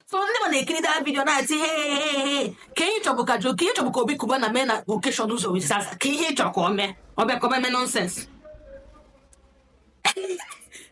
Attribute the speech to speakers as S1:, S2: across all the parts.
S1: so ndị ma na-ekiri that video na-ati he kee ihe ị chọbụ ka kee ihe ị chọbụ ka obi kubana mee na occasion jowizaza kee ihe ị chọrọ ka ọ mee ọ bịa ka ọ mee nonsense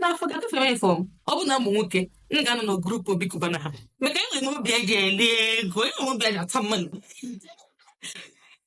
S1: n'afọ ga kafere ifo ọ bụ na m bụ nwoke m ga-anọ na group obi kubana ha maka enwere m obi eji eli ego enwere m obi eji ata money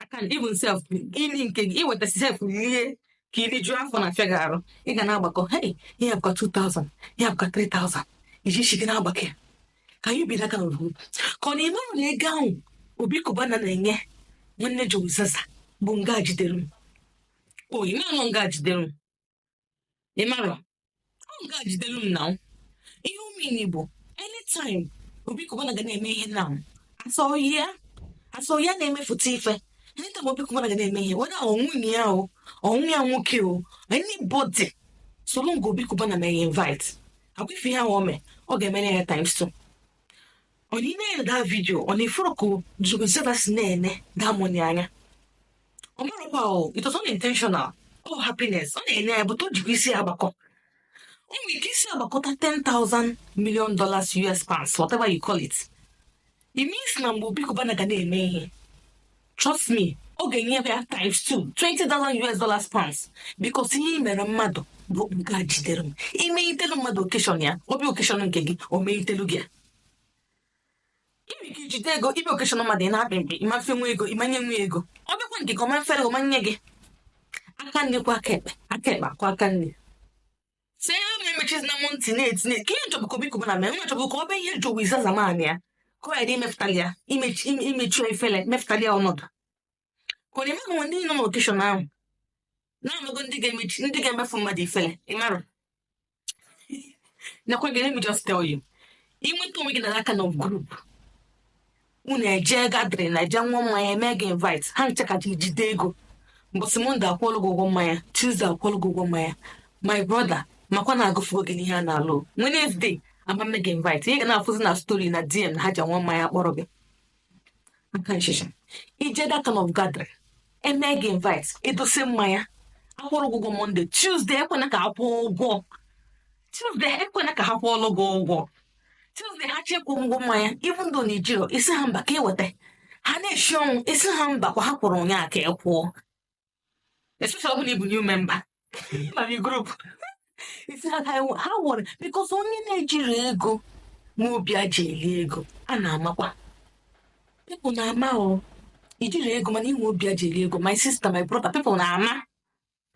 S1: I can even sef ili nke gị i weta sef rie ka i rijuo afọ na-afịa gị arụ ị ga na-agbakọ hey ihe a bụkwa 2000 ihe a bụkwa 3000 i ji isi gị na-agbakọ ya ka anyị biri aka n'ụlọ ka ọ na-eme na ego ahụ obi kubana na-enye nwanne jowizaza bụ ọga jidere m oyi manụ ọga jidere m ị mara ọga jidelu m na ihe ọ mean bụ anytime obi kubana ga na-eme ihe na asọghị ya asọghị ya na-emefụta ife anytime obi kubana ga na-eme ihe whether ọ nwunye ya o ọ nwa ya nwoke o anybody soro nga obi kubana mee ya invite agwa ife ihe ahụ ọ mee ọ ga-emere ya times two ọ na ị na-ele that video ọ na ị fụrụ ka Jowizaza si na-ene that money anya ọ marakwa o it was unintentional oh happiness ọ na-enye ya but o jikwa isi ya agbakọ o nwere ike isi agbakọta 10,000 million dollars US pounds whatever you call it it means na mgbe Obi Cubana ga na-eme ihe trust me ọ ga-enye ya times two 20 dollar us dollars pounds because ihe i mere mmadụ bụ ọga jidere m imeghitelu mmadụ occasion ya ọ bịa occasion nke gị o meghitelu gị ya iri ka i jide ego ị bịa occasion mmadụ ị na-akpị mkpị ị mafe nwa ego ị manye nwa ego ọ bịakwa nke ka ọ mafere gị ọ manye gị aka nri kwa aka ekpe aka ekpe akwa aka nri tinye ihe onye emechizina m ntị na-eti kee ihe ị chọbụ ka obi kubana mee nwa chọbụ ka ọ bụ ihe jowizaza manye ya ka ọ ghara imepụtali ya imechi ime- imechi ya ifele mepụtali ya ọnọdụ ka ọ na-eme ka nwa ndị nọ n'occasion ahụ na-amago ndị ga-emechi ndị ga-emefu mmadụ ifele ị mara nakwa gị let me just tell you i nweta onwe gị na that kind of group unu eje gathering na eje ṅụọ mmanya eme gị invite ha ncha ka ji jide ego mbọsị Monday akwụọlụ gị ụgwọ mmanya Tuesday akwụọlụ gị ụgwọ mmanya my brother makwa na agụfuo gị n'ihe a na-alụ Wednesday a ma eme gị invite ị ga na-afụzi na story na dm na ha ji ṅụọ mmanya kpọrọ gị aka nchicha i je that kind of gathering eme gị invite e dosie mmanya akwụrụ gị ụgwọ Monday Tuesday ekwena ka ha kwụọ ụgwọ Tuesday ekwena ka ha kwụọlụ gị ụgwọ Tuesday ha chọọ ịkwụ ụgwọ mmanya even though na i jirọ ị sị ha mba ka i weta ha na-eshi ọnwụ ị sị ha mba kwa ha kwụrụ ụnyaa ka ị kwụọ especially ọ bụ na ị bụ new member na the group ị sị ha ha wụrụ because onye na-ejirọ ego nwe obi e ji eli ego a na-amakwa people na-ama o i jirọ ego mana i nwe obi e ji eli ego my sister my brother people na-ama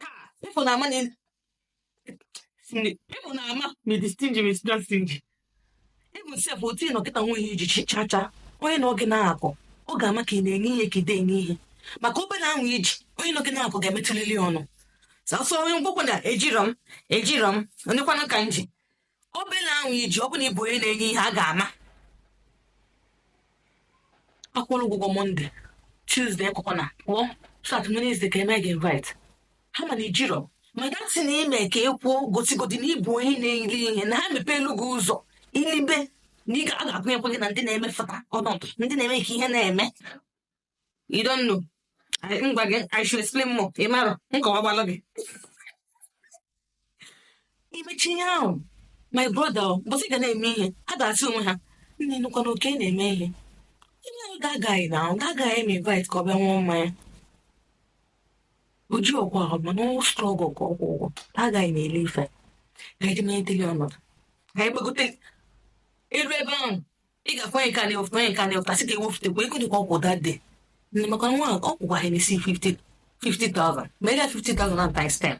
S1: Ha, people na money. Ị fụ na mmadụ dị stingy ọ dị stingy. Even sef ọ dị na kịta o nwehị ihe i ji cha cha. Onye nọ gị n'akụkụ, ọ ga-ama ka ị na-enye ihe ka ị da-enye ihe. Maka obele ahụ i ji, onye nọ gị n'akụkụ ga-emetụlili ọnụ. Sọsọ onye mgbokwe na ejirọ m, ejirọ m, onye kwanụ ka m ji. obele ahụ i ji ọ bụ na ị bụ onye na-enye ihe a ga-ama akwụrụ ụgwọ mọnde tuzde akụkọ na pụọ sat wenezde ka eme gị invite ha mana ejirọ m datị na-eme ka i kwuo gosigodi na ị bụ onye na-eri ihe na ha mepeelụ gị ụzọ i libe na a ga-agụnyekwa gị na ndị na-emefụta ọnọdụ ndị na-eme ka ihe na-eme I don't know. I, I should explain more. Ị marọ, m kọwagbalụ gị. I mecha ihe ahụ, my brother, mbọsị ị ga na-eme ihe, a ga-asị onwe ha, nna ị nụkwa na Oke na-eme ihe. Ihe ahụ ga-agaghị na ahụ, ga-agaghị eme invite ka ọ bịa nwụọ mmanya. O ji ụgwọ ahụ, mana ọ strọgụ ka ọ kwụọ ụgwọ, agaghị na ele ife. Ka anyị jee metele ọnọdụ. Ka anyị gbagote elu ebe ahụ. ị ga-afụ anyị ka a na-ewepụta anyị ka a na-ewepụta sị ka e wepụtakwa ego dị ka ọ kụ that day nne maka nwa ahụ ọ kụkwa ha n'isi 50 50,000 ma ị ga 50,000 na times 10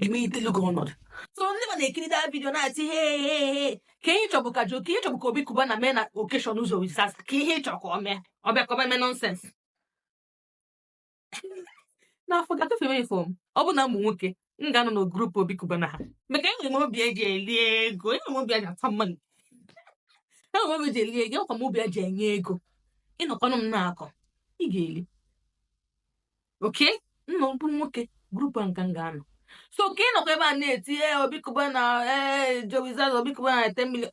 S1: emetelu gị ọnọdụ so ndị mmadụ na-ekiri that vidio na-eti he he he kee ihe ị chọbụ ka jo kee ihe ị chọbụ ka obi kubana mee na okeshọn jowizaza kee ihe ị chọrọ ka o mee ọ bịa ka ọ bịa mee nọnsens n'afọ gafewe fọm ọ bụ na m bụ nwoke m ga-anọ na grupu obi kubana ha maka enwere m obi eji eli ego enwere m obi eji ata mmanụ enwere m obi eji eli ego enwekwa m obi eji enye ego ị nọkwanụ m n'akụkụ ị ga-eli oke nna ọ bụrụ nwoke grupu a ka m ga-anọ so ka ị nọkwa ebe a na-eti ee obi kubana ee jowizaza obi kubana na 10 million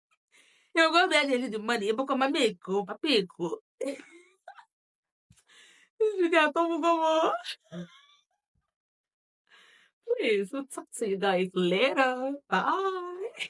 S1: ya oge obi a na-eri dị mmadụ ịbụkọ mama eko papa eko izu gị atọgbugo m Please, we'll talk to you guys later. Bye.